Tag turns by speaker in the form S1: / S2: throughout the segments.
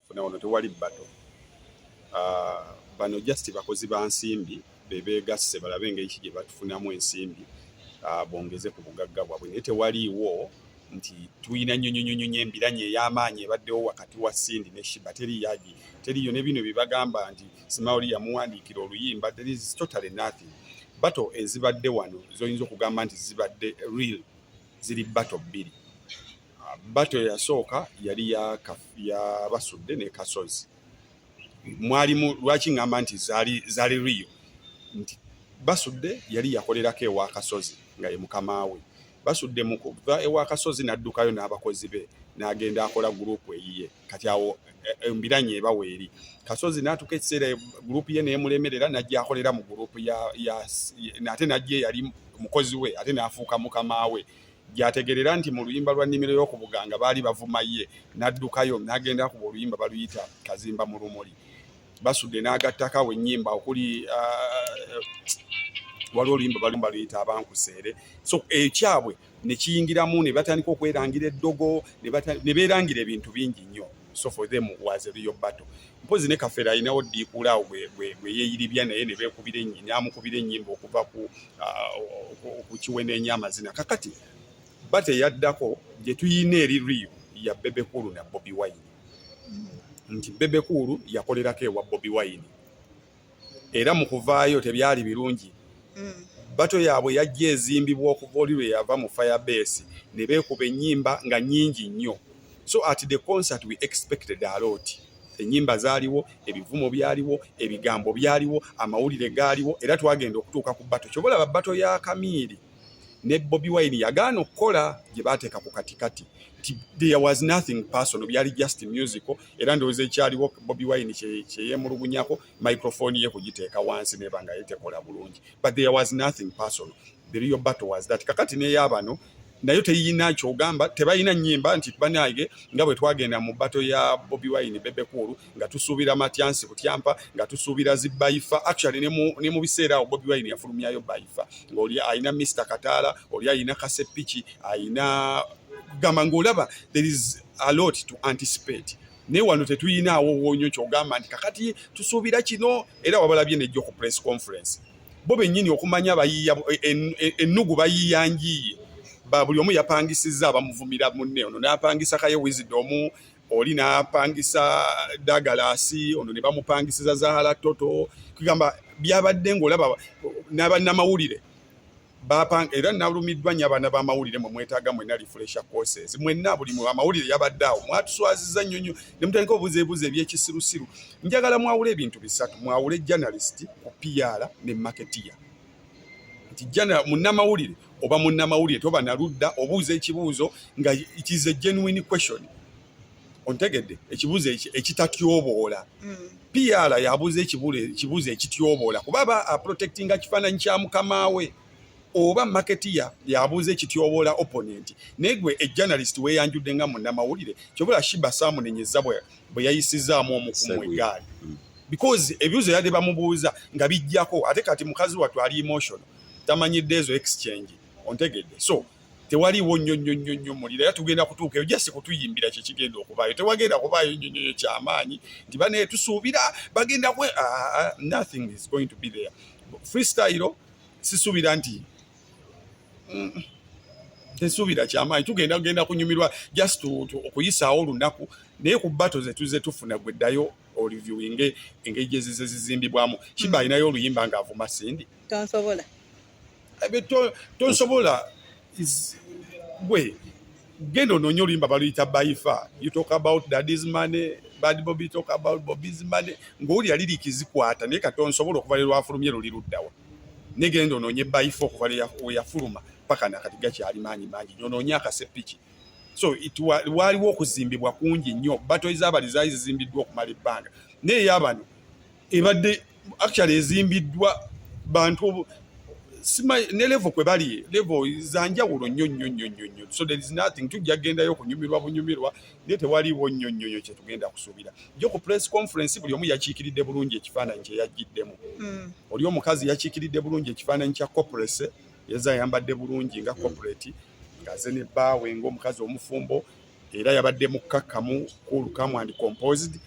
S1: funa wano tewali bato ah, bano just bakozi ba nsimbi bebegasse balabe engeri ki gye batufunamu ensimbi ah, bongeze ku bugagga bwabwe naye tewaliiwo nti tulina nyonyonyonyo embiranye ey'amaanyi ebaddewo wakati wa sindi ne shiba teriyagi teriyo ne bino byebagamba nti simaoli yamuwandiikira oluyimba there is totally nothing bato ezibadde wano zoyinza okugamba nti zibadde real ziri bato bbiri bato yasooka yali yabasudde ne kasozi mwalimu lwaki ŋŋamba nti zaali zaali riyo nti basudde yali yakolerako ewa kasozi nga ye mukama we basudde mu kuva ewa kasozi n'addukayo n'abakozi be n'agenda akola guruupu eyiye kati awo eh, eh, embiranye eba weeri kasozi n'atuuka ekiseera guruupu ye neemulemerera n'ajja akolera mu guruupu ate n'ajja eyali mukozi we ate n'afuuka mukama we gyategerera nti mu luyimba lwa nnimiro y'oku Buganga baali bavuma ye n'addukayo n'agenda akuba oluyimba baluyita Kazimba mu lumuli basudde n'agattako awo ennyimba okuli uh, waliwo oluyimba bali baluyita abankuseere so ekyabwe ne kiyingiramu ne batandika okwerangira eddogo ne beerangira ebintu bingi nnyo so for them was a real battle mpozi ne kafera alinawo ddiikuula awo gweyeeyiribya naye ne beekubira namukubira ennyimba okuva ku uh, okukiweneenya amazina kakati bate eyaddako gye tuyina eri riyo ya bebekulu na bobi wine nti bebekulu yakolerako ewa bobi wine era mu kuvaayo tebyali birungi hmm. bato yaabwe yajja ezimbibwa okuva oli lwe yava mu firebeesi ne beekuba ennyimba nga nnyingi nnyo so at the concert we expected alooti ennyimba zaaliwo ebivumo byaliwo ebigambo byaliwo amawulire gaaliwo era twagenda okutuuka ku bato kyoba olaba bato ya kamiiri ne Bobi Wine yagaana okukola gye baateeka ku katikati nti there was nothing personal, byali just musical. Era ndowooza ekyaliwo Bobi Wine kyeyemulugunyako microphone ye kugiteeka wansi neba nga yetekola bulungi, but there was nothing personal, the real battle was that. Kakati neyabano nayo teyina kyogamba, tebalina nyimba nti banange nga bwe twagenda mu battle ya Bobi Wine Bebe Cool nga tusuubira matyansi butyampa nga tusuubira zi baifa actually ne mu biseera awo bobi wine yafulumyayo baifa ngaoli alina mr kataala oli alina kasepiki alina gamba ngaolaba there is a lot to anticipate naye wano tetuyinaawo wonyo kyogamba nti kakati tusuubira kino era wabalabye nejjo ku press conference bo bennyini okumanya bayiiya ennugu bayiiya njiiye ba buli omu yapangisizza abamuvumira munne ono n'apangisa kaye wizidomu oli n'apangisa dagalaasi ono ne bamupangisiza zahala toto kugamba byabadde ng'olaba n'abannamawulire bapanga era nalumiddwa nnyo abaana b'amawulire mwe mwetaaga mwenna refresha courses mwenna buli mu amawulire yabadde awo mwatuswaziza nnyo nnyo ne mutandika obuzeebuze ebyekisirusiru njagala mwawule ebintu bisatu mwawule journalist ku piyaala ne maketeya nti jana munnamawulire oba munnamawulire toba na ludda obuuza ekibuuzo nga it is a genuine question ontegedde ekibuuzo ekitatyoboola mm. pr yabuuza ekibuuzo ekityoboola kuba aba aprotectinga kifaananyi kya mukama we oba marketeer yabuuza ekityoboola opponent naye gwe ejournalist weyanjudde nga munnamawulire kyobula shiba saamunenyeza bwe yayisizaamu omukumu egaali mm. because ebibuuzo yadde bamubuuza nga bijjako ate kati mukazi wattu ali emotional tamanyidde ezo exchange ontegedde so tewaliwo nnyo nnyo nnyo nnyo muliro era tugenda kutuuka eyo jasi kutuyimbira kyekigenda okubaayo tewagenda kubaayo nnyo nnyo kyamaanyi nti banaye tusuubira bagenda kwe ah, ah, ah, nothing is going to be there freestyle sisuubira nti mm, tesuubira kyamaanyi tugenda kugenda kunyumirwa just okuyisaawo olunaku naye ku bato zetuze tufuna gwe ddayo oliviewinge engeri gyezize zizimbibwamu kiba alinayo oluyimba ng'avuma sindi mm. tonsobola
S2: eh,
S1: tonsobola gwe genda ononye oluyimba baluyita baifa you talk about daddy's money bad bobi talk about bobi's money ng'owulira liriki zikwata naye kati onsobola okuva lero afulumye luli luddawa naye genda ononye baifa okuva weyafuluma paka nakati gakyali maanyi mangi nyo ononye akasepiki so waaliwo okuzimbibwa kungi nnyo bato ezaabali zaali zizimbiddwa okumala ebbanga naye yabano ebadde actually ezimbiddwa bantu ne levo kwe bali levo zanjawulo nnyo nnyo nnyo nnyo nnyo so there is nothing tujja gendayo okunyumirwa bunyumirwa naye tewaliwo nnyo nnyo nnyo kyetugenda kusuubira jo ku press conference buli omu yakiikiridde bulungi ekifaananyi kye yajjiddemu mm. oli omukazi yakiikiridde bulungi ekifaananyi kya coprese yeza ayambadde bulungi nga coprate ngaze ne baawe ngaomukazi omufumbo era yabadde mukkakkamu cool come and composed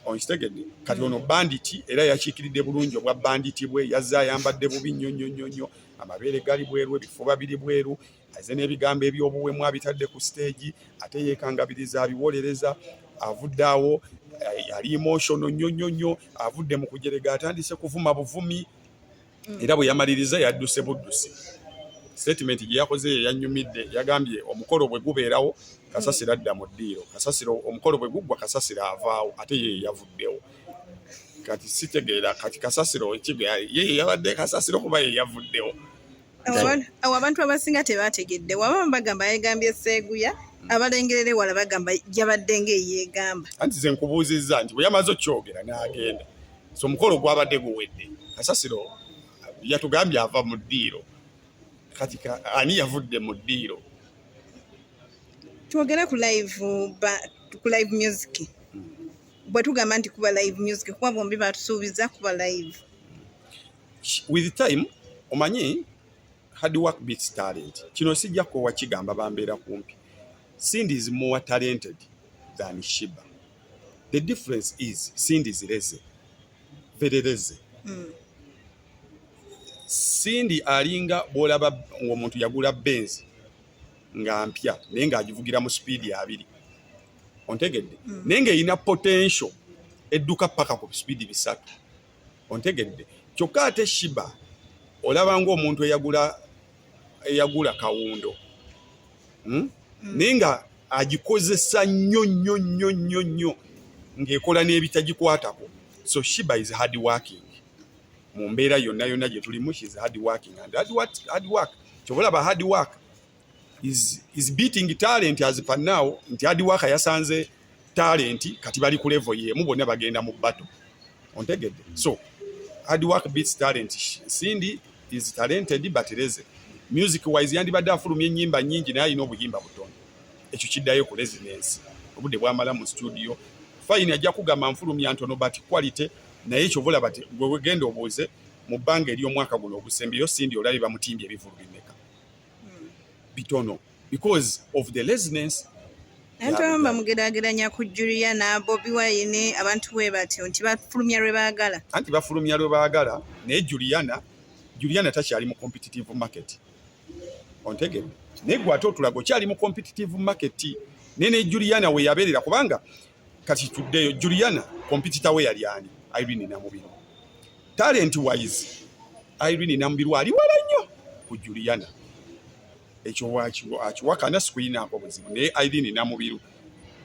S1: onkitegedde kati ono banditi era yakiikiridde bulungi obwa banditi bwe yazze ayambadde bubi nnyo nnyo nnyo nnyo amabeere gali bweru ebifuba biri bweru aze n'ebigambo eby'obuwemu abitadde ku siteegi ate yeekangabiriza abiwolereza avudde awo eh, yali emotional nnyo nnyo nnyo avudde mu kujerega atandise kuvuma buvumi era bwe yamaliriza yadduse buddusi sitatimenti gye yakoze ye yanyumidde yagambye omukolo bwe gubeerawo kasasiro adda mu ddiiro kasasiro omukolo bwe guggwa kasasiro avaawo ate ye yavuddewo kati sitegeera kati kasasiro ekiga ye yabadde kasasiro kuba ye yavuddewo
S2: awo abantu abasinga tebategedde waba bagamba yegambye seeguya abalengerera ewala bagamba yabadde ngaeyegamba anti ze nkubuuzizza
S1: nti bwe yamaze okyogera n'agenda so omukolo gwabadde guwedde kasasiro yatugambye ava mu ddiiro kati ani yavudde mu ddiiro
S2: twogere ku live ku live music bwe tugamba nti kuba live music kuba bombi batusuubiza kuba live
S1: with time omanyi hard work beats talent kino sijja kwowa kigamba bambeera kumpi cindy is more talented than shiba the difference is cindy is leze very leze mm. cindy alinga bwolaba ngaomuntu yagula benzi nga mpya naye ng'agivugira mu sipiidi abiri ontegedde mm. naye ng'erina potential edduka paka ku sipiidi bisatu ontegedde kyokka ate shiba olaba ngaomuntu eyagula eyagula kawundo hmm? Hmm. naye nga agikozesa nnyo nnyo nnyo nnyo nnyo ng'ekola n'ebitagikwatako so shiba is hard working mu mbeera yonna yonna gye tulimu she is hard working and hard work kyobalaba hard work is, is beating talent as per now nti adi waka yasanze talent kati bali ku level yemu bonna bagenda mu battle ontegedde so hard work beats talent Cindy is talented but leze music wise yandibadde afulumya ennyimba nyingi naye alina obuyimba butono ekyo kiddayo ku residence obudde bwamala mu studio fayini ajja kugamba nfulumya ntono but quality naye ekyo bulaba ti gwewegenda obuuze mu bbanga ery'omwaka guno ogusembyeyo Cindy olabye bamutimbye ebivulu bimeka hmm. bitono because of the laziness ntabamu
S2: bamugerageranya ku julia na bobi wine abantu bwe batyo nti bafulumya lwe baagala anti bafulumya lwe
S1: baagala naye juliana juliana takyali mu competitive market ontegere naye gwe ate otulaga okyali mu competitive market naye ne juliana weyabeerera kubanga kati tuddeyo juliana kompitita we yali ani irene namubiru talent wise irene namubiru ali wala nnyo ku juliana ekyo akiwakana sikuyinaako buzibu naye irene namubiru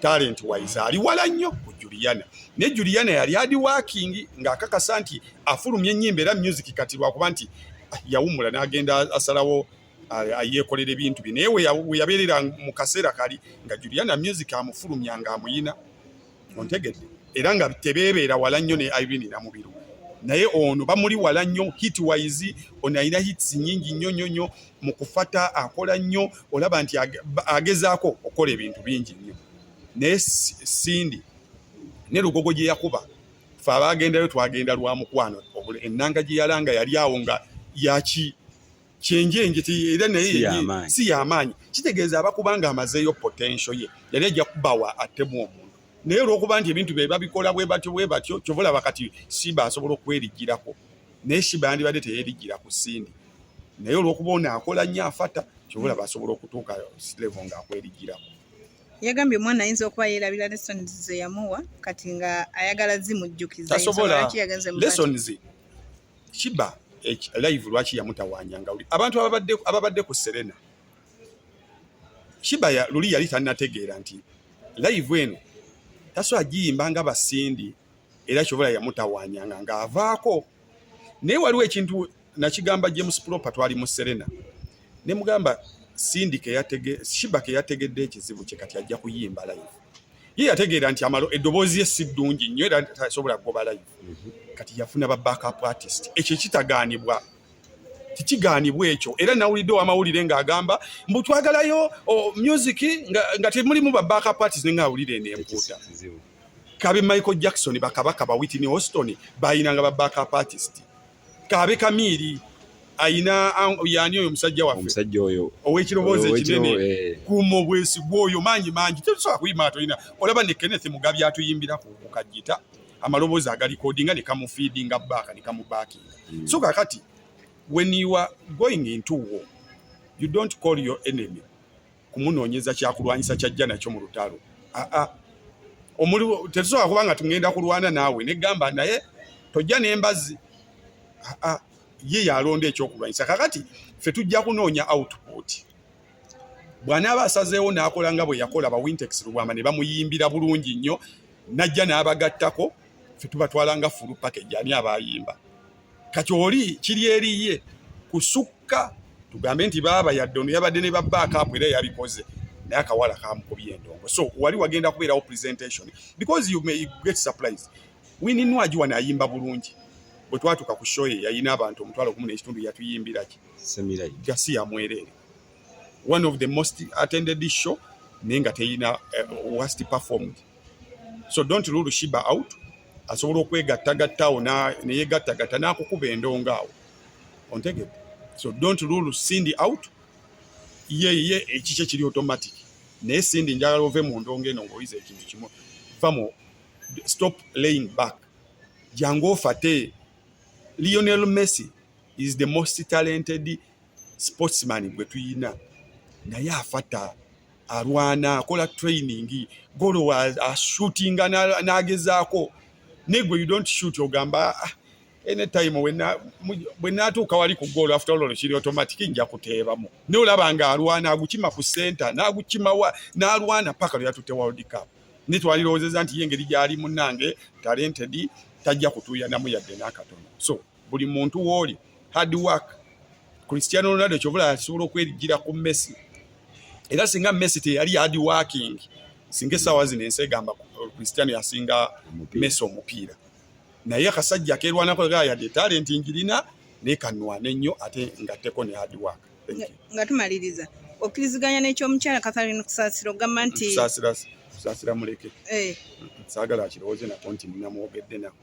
S1: talent wise ali wala nnyo ku juliana naye juliana yali adi wakingi ng'akakasa nti afulumya ennyimba era music kati lwakuba nti ah, yawumula n'agenda asalawo yeekolera ebintu bye naye weyabeerera mu kaseera kali nga juliana music amufulumya nga amuyina ontegedde era nga tebeebeera wala nnyo ne irene namubiru naye ono bamuli wala nnyo hit wise ono alina hits nyingi nnyo nnyo nnyo mu kufata akola nnyo olaba nti agezaako okukola ebintu bingi nnyo naye sindi ne lugogo gye yakuba fe abaagendayo twagenda lwa mukwano ennanga gye yalanga yali awo nga yaki kyenjenje era naye si yamaanyi kitegeeza aba kubanga amazeeyo potential ye yali ajja kubawa atemu omuntu naye olwokuba nti ebintu bye babikola bwe batyo bwe batyo kyova olaba kati simba asobola okwerijjirako naye simba yandibadde teyerijjira ku sindi naye olwokuba ono akola nnyo afata kyova olaba asobola okutuuka silevo nga akwerijjirako yagambye
S2: omwana ayinza okuba yeerabira lessons ze yamuwa kati nga ayagala zimujjukiza tasobola
S1: lessons Shiba eh, live lwaki yamutawanya nga abantu ababadde ababadde ku Serena Shiba ya luli yali tanategeera nti live eno taso agiyimba nga basindi era kyobola yamutawanya nga nga avaako naye waliwo ekintu nakigamba James Proper twali mu Serena ne mugamba Cindy ke yatege Shiba ke yategedde ekizibu kye kati ajja kuyimba live ye yategeera nti amalo eddoboozi ye si ddungi nnyo era tasobola kugoba live mhm. kati yafuna ba backup artist ekyo ekitagaanibwa tekigaanibwa ekyo era nawulidde owamawulire ng'agamba mbu twagalayo music nga temulimu ba backup artist nenga awulire enempuuta kabe michael jackson bakabaka ba witney hoston bayinanga ba backup artist kaabe kamiiri ayina yani oyo musajja waffe omusajja oyo owekiroboozi ekinene eh. kuma obwesigwa oyo mangi mangi tetusobola kuyima atolina olaba ne kenneth mugabi atuyimbira ku kajita amaloboozi agalikodinga ne kamufiidinga baaka ne kamubakinga hmm. so kakati when you are going into war you don't call your enemy kumunoonyeza kyakulwanyisa kyajja nakyo mu lutalo ah, ah. tetusobola kuba nga tugenda kulwana naawe negamba naye tojja nembazi ah, ye yalonda ekyokulwanyisa kakati fe tujja kunoonya output bwanaaba asazeewo n'akola nga bwe yakola ba wintex lubwama ne bamuyimbira bulungi nnyo najja n'abagattako fe tubatwala nga fulu package ani abayimba kati oli kiri eriye kusukka tugambe nti baaba yadde ono yabadde ne babbaako apo era yabikoze naye akawala kamukubye endongo so wali wagenda kubeerawo presentation because you may get surprise wininwagi wano ayimba bulungi bwe twatuuka ku shoye yalina abantu omutwalo gumu n'ekitundu yatuyimbiraki gasi yamwereere one of the most attended show naye nga teyina uh, eh, worst performed so don't rule shiba out asobola okwegattagatta awo neyegattagatta n'akukuba endongo awo ontegede so don't rule cindy out ye ye ekikye kiri automatic naye cindy njagala ove mu ndongo eno ng'oyiza ekintu kimu famu stop laying back jangu ofate lionel messi is the most talented sportsman gwe tuyina naye afata alwana akola training golo ashootinga nagezaako negwe you don't shoot ogamba ah, anytime wena bwe natuuka wali ku goolo after all kiri automatic nja kuteebamu naye olaba nga alwana agukima ku center nagukimawa nalwana paka lweyatutte world cup naye twalirowozeza nti ye engeri gyali munange talented tajja kutuuyanamu yadde n'akatono so buli muntu wooli hard work Cristiano Ronaldo kyobula asobola okwerigira ku Messi era singa Messi teyali hard working singa essaawa zino ensi egamba uh, Cristiano yasinga Messi omupiira naye akasajja akeerwanako gaa yadde talenti ngirina naye kanwane nnyo ate ngatteko ne hard work nga tumaliriza
S2: okkiriziganya n'ekyomukyala Catherine Kusasira ogamba nti Kusasira
S1: muleke eh. saagala akirowooze nako nti nnamwogedde nako